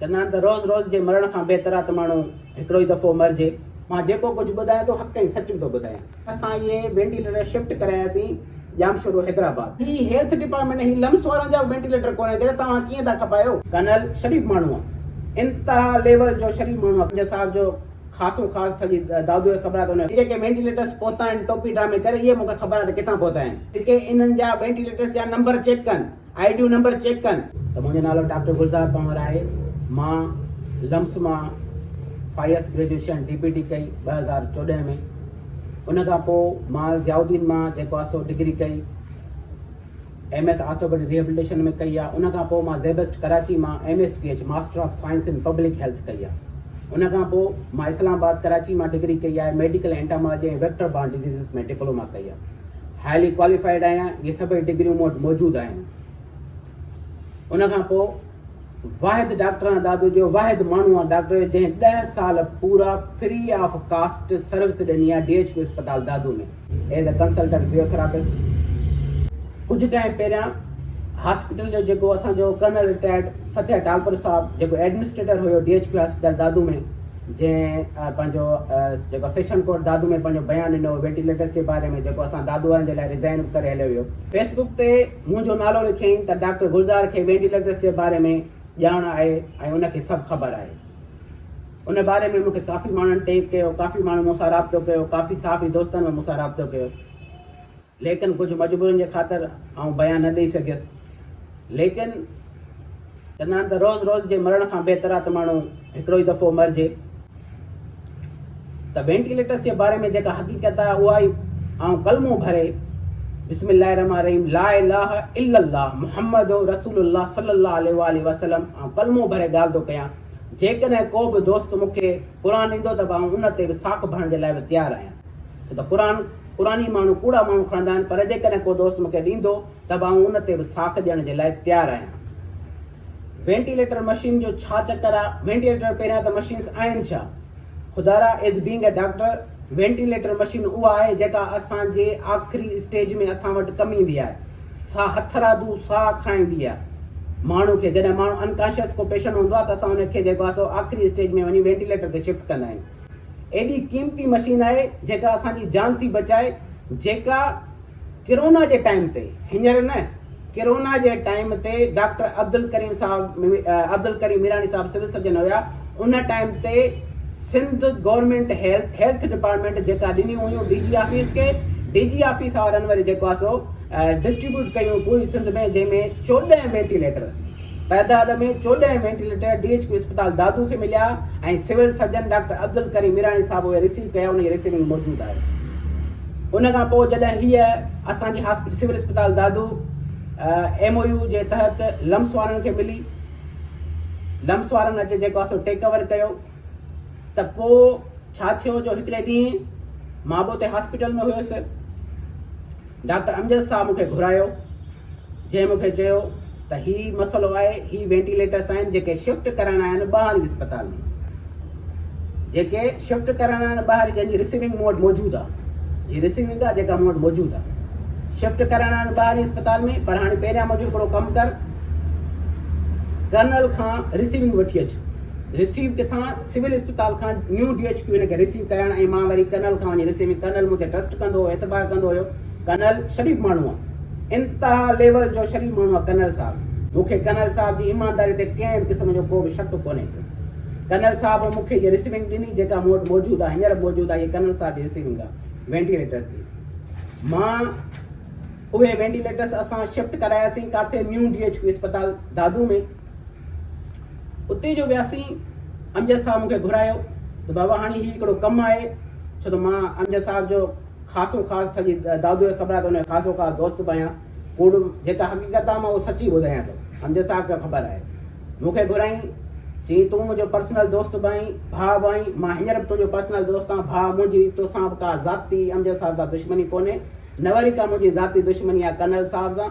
چوندا آهن ته روز روز جي مرڻ کان بهتر آهي ته ماڻهو هڪڙو ئي دفعو مرجي. مان جيڪو ڪجهه ٻڌايان ٿو حق ۽ سچ ٿو ٻڌايان. اسان اهي وينٽيليٽر شفٽ ڪراياسين ڄامشورو حيدرآباد. هي هيلٿ ڊپارٽمينٽ هي لمس وارن جا به وينٽيليٽر ڪونهن ڪيا ته توهان ڪيئن ٿا کپايو. ڪرنل شريف ماڻهو آ انتها ليول جو شريف ماڻهو آ. جج صاحب جو خاصو خاص سڄي دادوء کي خبر آ ته ان. جيڪي وينٽيليٽرس پهتا آهن ٽوپي ڊرامي ڪري اهي مون کي خبر آ ته ڪٿان پهتا آهن. جيڪي انهن جا وينٽيليٽرس جا نمبر چيڪ ڪن. آئي ڊيون نمبر چيڪ ڪن. ته منهنجو نالو ڊاڪٽر گلزار پنهور آهي مان لمس مان فائيس گريجوئيشن ڊي پي ٽي ڪئي ٻه هزار چوڏهن ۾ ان کان پوء مان ضياء الدين مان جيڪو آهي سو ڊگري ڪئي ايم ايس آرٿوپيڊڪ ريهبلٽيشن ۾ ڪئي آهي ان کان پوء مان زيبسٽ ڪراچي مان M S P H master of science in public health ڪئي آهي ان کان پوء مان اسلام آباد ڪراچي مان ڊگري ڪئي آهي medical entomology ۽ vector borne diseases ۾ diploma ڪئي آهي. هائلي ڪواليفائيڊ آهيان اهي سڀئي ڊگريون مون وٽ موجود آهن ان کان پوء واحد ڊاڪٽر آن دادو جو واحد ماڻهو آن ڊاڪٽر جو جنهن ڏه سال پورا فري آف ڪاسٽ سروس ڏني آ ڊي ايڇ ڪيو اسپتال Dadu ۾ as a consultant physiotherapist ڪجهه ٽائم پهريان هاسپيٽل جو جيڪو اسان جو ڪرنل رٽائرڊ فتح ٽالپر صاحب جيڪو ايڊمنسٽريٽر هيو D H Q hospital Dadu ۾ جنهن پنهنجو جيڪو سيشن ڪورٽ دادو ۾ پنهنجو بيان ڏنو هو ويٽيليٽس جي باري ۾ جيڪو اسان دادو وارن جي لاء ريزائن به ڪري هليو ويو. فيس بڪ تي منهنجو نالو لکيائين ته ڊاڪٽر گلزار کي وينٽيليٽس جي باري ۾ ڄاڻ آهي ۽ ان کي سڀ خبر آهي. ان باري ۾ مون کي ڪافي ماڻهن ٽيگ ڪيو، ڪافي ماڻهن مون سان رابطو ڪيو، ڪافي صحافي دوستن به مون سان رابطو ڪيو. ليڪن ڪجهه مجبورين جي خاطر آئون بيان نه ڏئي سگهيس. ليڪن چوندا آهن ته روز روز جي مرڻ کان بهتر آهي ته ماڻهو هڪڙو ئي دفعو مرجي. ته وينٽيليٽرس جي باري ۾ جيڪا حقيقت آهي اها ئي آئون ڪلمو ڀري بسم الله الرحمٰن الرحيم لا اله الا الله محمد رسول الله صلي الله عليه واٰله وسلم آئون ڪلمو ڀري ڳالهه ٿو ڪيان. جيڪڏهن ڪو به دوست مون کي قرآن ڏيندو ته به آئون ان تي به ساک ڀرڻ جي لاء به تيار آهيان. ڇو ته قرآن قرآن هي ماڻهو ڪوڙا ماڻهو کڻندا آهن پر جيڪڏهن ڪو دوست مونکي ڏيندو ته به آئون ان تي به ساک ڏيڻ جي لاء تيار آهيان. وينٽيليٽر مشين جو ڇا چڪر آ وينٽيليٽر پهريان ته مشينس آهن ڇا خدارا as being a doctor ventilator machine اها آهي جيڪا اسان جي آخري اسٽيج ۾ اسان وٽ ڪم ايندي آهي سا هٿرادو ساهه کڻائيندي آهي ماڻهو کي جڏهن ماڻهو انڪانشيس ڪو پيشنٽ هوندو آهي ته اسان ان کي جيڪو آهي سو آخري اسٽيج ۾ وڃي وينٽيليٽر تي شفٽ ڪندا آهيون ايڏي قيمتي مشين آهي جيڪا اسان جي جان ٿي بچائي جيڪا ڪرونا جي ٽائيم تي هينئر نه ڪرونا جي ٽائيم تي ڊاڪٽر عبدالڪريم صاحب عبدالڪريم ميراڻي صاحب سول سرجن هيا ان ٽائيم تي Sindh government health health department جيڪا ڏنيون هيون ڊي جي آفيس کي ڊي جي آفيس وارن وري جيڪو آهي سو ڊسٽريبيوٽ ڪيون پوري سنڌ ۾ جنهن ۾ چوڏهن وينٽيليٽر تعداد ۾ چوڏهن وينٽيليٽر ڊي ايڇ ڪيو اسپتال دادو کي مليا ۽ civil surgeon doctor Abdul Karim Mirani صاحب اهي رسيو ڪيا انهن جي رسيونگ موجود آهي ان کان پوء جڏهن هيء اسان جي هاسپٽل سول اسپتال دادو ايم او يو جي تحت لمس وارن کي ملي لمس وارن اچي جيڪو اسو ٽيڪ اوور ڪيو ته پوء ڇا ٿيو جو هڪڙي ڏينهن مان به اتي هاسپيٽل ۾ هيس. ڊاڪٽر امجد صاحب مون کي گهرايو، جنهن مون کي چيو ته هي مسئلو آهي، هي وينٽيليٽرس آهن جيڪي شفٽ ڪرڻا آهن ٻهاري اسپتال ۾، جيڪي شفٽ ڪرڻا آهن ٻهاري جنهن جي رسيونگ مون وٽ موجود آ، جي رسيونگ آ جيڪا مون وٽ موجود آ، شفٽ ڪرڻا آهن ٻهاري اسپتال ۾ پر هاڻي پهريان منهنجو هڪڙو ڪم ڪر، ڪرنل کان رسيونگ وٺي اچ. رسيو ڪٿان؟ سول اسپتال کان نيو ڊي ايڇ ڪيو هن کي رسيو ڪرائڻ ۽ مان وري ڪرنل کان وڃي رسيو ۾ ڪرنل مون تي ٽرسٽ ڪندو هو اعتبار ڪندو هيو ڪرنل شريف ماڻهو آ انتها ليول جو شريف ماڻهو آ ڪرنل صاحب مون کي ڪرنل صاحب جي ايمانداري تي ڪنهن به قسم جو ڪو به شڪ ڪونهي پيو ڪرنل صاحب مون کي هيء رسيونگ ڏني جيڪا مون وٽ موجود آ هينئر به موجود آ هيء ڪرنل صاحب جي رسيونگ آ وينٽيليٽرس جي مان اهي وينٽيليٽرس اسان شفٽ ڪراياسين ڪاٿي نيو ڊي ايڇ ڪيو اسپتال دادو ۾ اتي جو وياسين امجد صاحب مون کي گهرايو ته بابا هاڻي هي هڪڙو ڪم آهي ڇو ته مان امجد صاحب جو خاصو خاص سڄي دادوء کي خبر آهي ته ان جو خاصو خاص دوست به آهيان ڪوڙ جيڪا حقيقت آهي مان اهو سچي ٻڌايان ٿو امجد صاحب کي خبر آهي مون کي گهرائين چيائين تون منهنجو پرسنل دوست به آهين ڀاء به آهين مان هينئر به تنهنجو پرسنل دوست آهيان ڀاء منهنجي توسان به ڪا ذاتي امجد صاحب سان دشمني ڪونهي نه وري ڪا منهنجي ذاتي دشمني آهي ڪرنل صاحب سان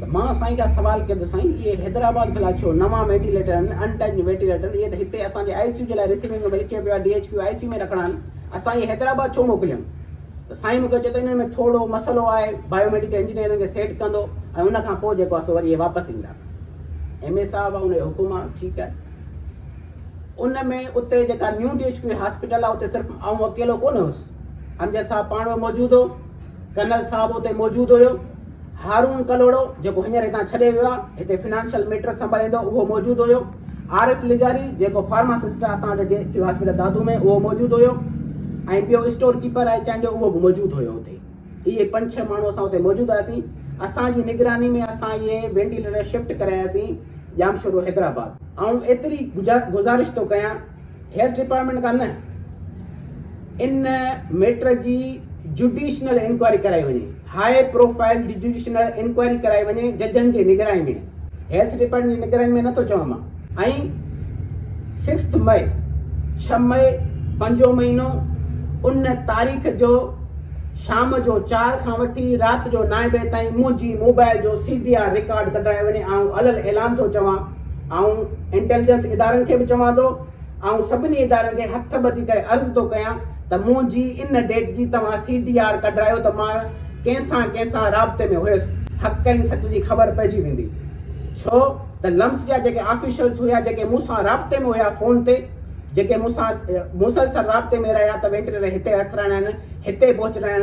ته مان سائين کان سوال ڪيو ته سائين اهي حيدرآباد ڀلا ڇو نوان وينٽيليٽر آهن انٽچ وينٽيليٽر اهي ته هتي اسان جي آئي سي يو جي لاء رسيونگ ۾ لکيو پيو آهي D H Q I C U ۾ رکڻا آهن اسان اهي حيدرآباد ڇو موڪليون ته سائين مون کي چيو ته انهن ۾ ٿورڙو مسئلو آهي بايو ميڊيڪل انجنيئر انهن کي سيٽ ڪندو ۽ ان کان پوء جيڪو آهي سو وري اهي واپس ايندا ايم اي صاحب آهي ان جو حڪم آهي ٺيڪ آهي ان ۾ اتي جيڪا new D H Q hospital آهي اتي صرف آئون اڪيلو ڪونه هوس امجد صاحب پاڻ موجود هو ڪرنل صاحب اتي موجود هيو. هارون ڪلهوڙو جيڪو هينئر هتان ڇڏي ويو آهي، هتي فنانشل ميٽرس سنڀاليندو هو، اهو موجود هيو. عارف لغاري جيڪو فارماسسٽ آهي اسان وٽ جي هاسپيٽل دادو ۾ اهو موجود هيو ۽ ٻيو اسٽور ڪيپر آهي چانهه جو اهو به موجود هيو اتي. اهي پنج ڇهه ماڻهو اسان اتي موجود هئاسين. اسان جي نگراني ۾ اسان اهي وينٽيليٽر شفٽ ڪراياسين ڄامشورو حيدرآباد. آئون ايتري گذارش ٿو ڪيان. هيلٿ ڊپارٽمينٽ کان نه ان ميٽر جي جڊيشنل انڪوائري ڪرائي وڃي هاء پروفائل جڊيشنل انڪوائري ڪرائي وڃي ججن جي نگراني ۾ هيلٿ ڊپارٽمينٽ جي نگراني ۾ نٿو چوان مان ۽ سڪسٿ مئي ڇهه مئي پنجو مهينو ان تاريخ جو شام جو چار کان وٺي رات جو نائين بجي تائين منهنجي موبائل جو سي ڊي آر رڪارڊ ڪڍرائي وڃي آئون الل اعلان ٿو چوان آئون انٽيليجنس ادارن کي به چوان ٿو، آئون سڀني ادارن کي هٿ ٻڌي ڪري عرض ٿو ڪيان ته منهنجي ان ڊيٽ جي توهان سي ڊي آر ڪڍرايو ته مان ڪنهن سان ڪنهن سان رابطي ۾ هيس حق ۽ سچ جي خبر پئجي ويندي ڇو ته لمس جا جيڪي آفيشلس هيا جيڪي مون سان رابطي ۾ هيا فون تي جيڪي مون سان مسلسل رابطي ۾ رهيا ته وينٽيليٽر هتي رکرائڻ هتي پهچرائڻ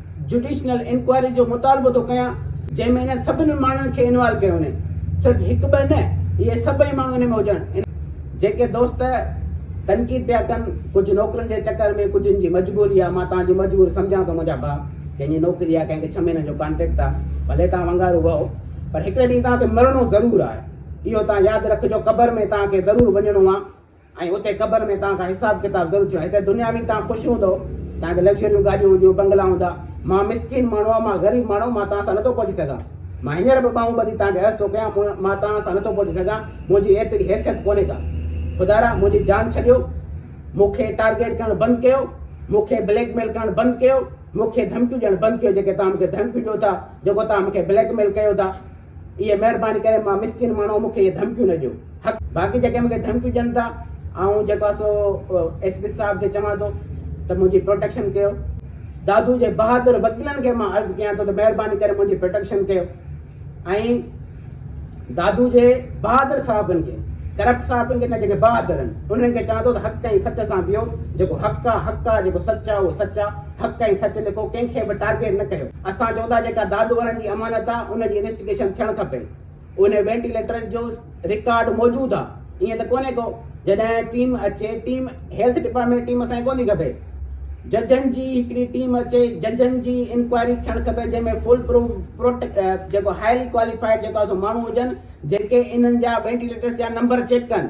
جڊيشنل انڪوائري جو مطالبو ٿو ڪيان جنهن ۾ انهن سڀني ماڻهن کي انوالو ڪيو وڃي صرف هڪ ٻه نه اهي سڀئي ماڻهو ان ۾ هجن جيڪي دوست تنقيد پيا ڪن ڪجهه نوڪرين جي چڪر ۾ ڪجهن جي مجبوري آ مان توهان جي مجبوري سمجهان ٿو منهنجا ڀاء ڪنهن جي نوڪري آ ڪنهن کي ڇهه مهينن جو ڪانٽريڪٽ آ ڀلي توهان ونگارو وهو پر هڪڙي ڏينهن توهان کي مرڻو ضرور آ اهو توهان ياد رکجو قبر ۾ توهان کي ضرور وڃڻو آ. ۽ اتي قبر ۾ توهان کان حساب ڪتاب ضرور ٿيو هتي دنيا ۾ توهان خوش هوندؤ توهان کي لگزريون گاڏيون هونديون بنگلا هوندا مان مسڪين ماڻهو آهيان مان غريب ماڻهو مان توهان سان نٿو پهچي سگهان مان هينئر به ٻانهون ٻڌي توهان کي عرض ٿو ڪيان مون مان توهان سان نٿو پهچي سگهان منهنجي ايتري حيثيت ڪونهي ڪا خدارا منهنجي جان ڇڏيو مون کي ٽارگيٽ ڪرڻ بند ڪيو مون کي بليڪ ميل ڪرڻ بند ڪيو مون کي ڌمڪيون ڏيڻ بند ڪيو جيڪي توهان مون کي ڌمڪيون ڏيو ٿا جيڪو توهان مون کي بليڪ ميل ڪيو ٿا اي مهرباني ڪري مان مسڪين ماڻهو مون کي اهي ڌمڪيون نه ڏيو حق باقي جيڪي مون کي ڌمڪيون ڏين ٿا آئون جيڪو آهي سو ايس پي صاحب کي چوان ٿو ته منهنجي پروٽيڪشن ڪيو دادو جي بهادر وڪيلن کي مان عرض ڪيان ٿو ته مهرباني ڪري منهنجي پروٽيڪشن ڪيو ۽ دادو جي بهادر صاحبن کي ڪرپٽ صاحبن کي نه جيڪي بهادر آهن انهن کي چوان ٿو ته حق ۽ سچ سان ويو جيڪو حق آهي حق آهي جيڪو سچ آهي اهو سچ آهي حق ۽ سچ لکو ڪنهن کي به ٽارگيٽ نه ڪيو. اسان چئون ٿا جيڪا دادو وارن جي امانت آ ان جي انويسٽيگيشن ٿيڻ کپي انهي وينٽيليٽرز جو رڪارڊ موجود آ ائين ته ڪونهي ڪو جڏهن ٽيم اچي ٽيم هيلٿ ڊپارٽمينٽ ٽيم اسان کي ڪونهي کپي ججن جي هڪڙي ٽيم اچي ججن جي انڪوائري ٿيڻ کپي جنهن ۾ فول پروف پروٽ جيڪو هائلي ڪواليفائيڊ جيڪو آ سو ماڻهو هجن جيڪي انهن جا وينٽيليٽرز جا نمبر چيڪ ڪن.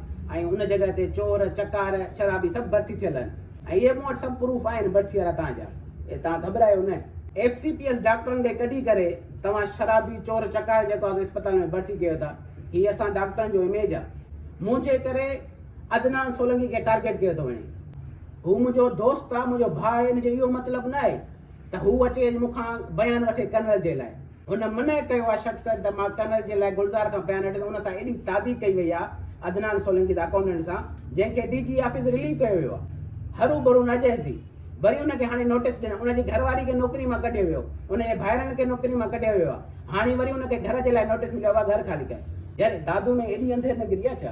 ۽ ان جڳهه تي چور، چڪار، شرابي سڀ ڀرتي ٿيل آهن ۽ اهي مون وٽ سڀ پروف آهن ڀرتي وارا توهان جا ۽ توهان گهٻرايو نه. ايف سي پي ايس ڊاڪٽرن کي ڪڍي ڪري توهان شرابي، چور، چڪار جيڪو آهي سو اسپتال ۾ ڀرتي ڪيو ٿا. هي اسان ڊاڪٽرن جو اميج آهي. منهنجي ڪري عدنان سولنگي کي ٽارگيٽ ڪيو ٿو وڃي. هو منهنجو دوست آهي، منهنجو ڀاء آهي ان جو اهو مطلب نه آهي ته هو اچي مون کان بيان وٺي ڪنرل جي لاء. هن منع ڪيو آهي شخص ته مان ڪنر جي لاء گلزار کان بيان هٽي ته ان سان ايڏي تعدي ڪئي وئي آهي عدنان سولنگي ته اڪائونٽنٽ سان جنهن کي ڊي جي آفيس رليو ڪيو ويو آهي هرو برو ناجائز ٿي وري ان کي هاڻي نوٽيس ڏنو ان جي گهر واري کي نوڪري مان ڪڍيو ويو ان جي ڀائرن کي نوڪري مان ڪڍيو ويو آهي هاڻي وري ان کي گهر جي لاء نوٽيس مليو آهي گهر خالي ڪيو جي دادو ۾ ايڏي انڌير نگري آهي ڇا.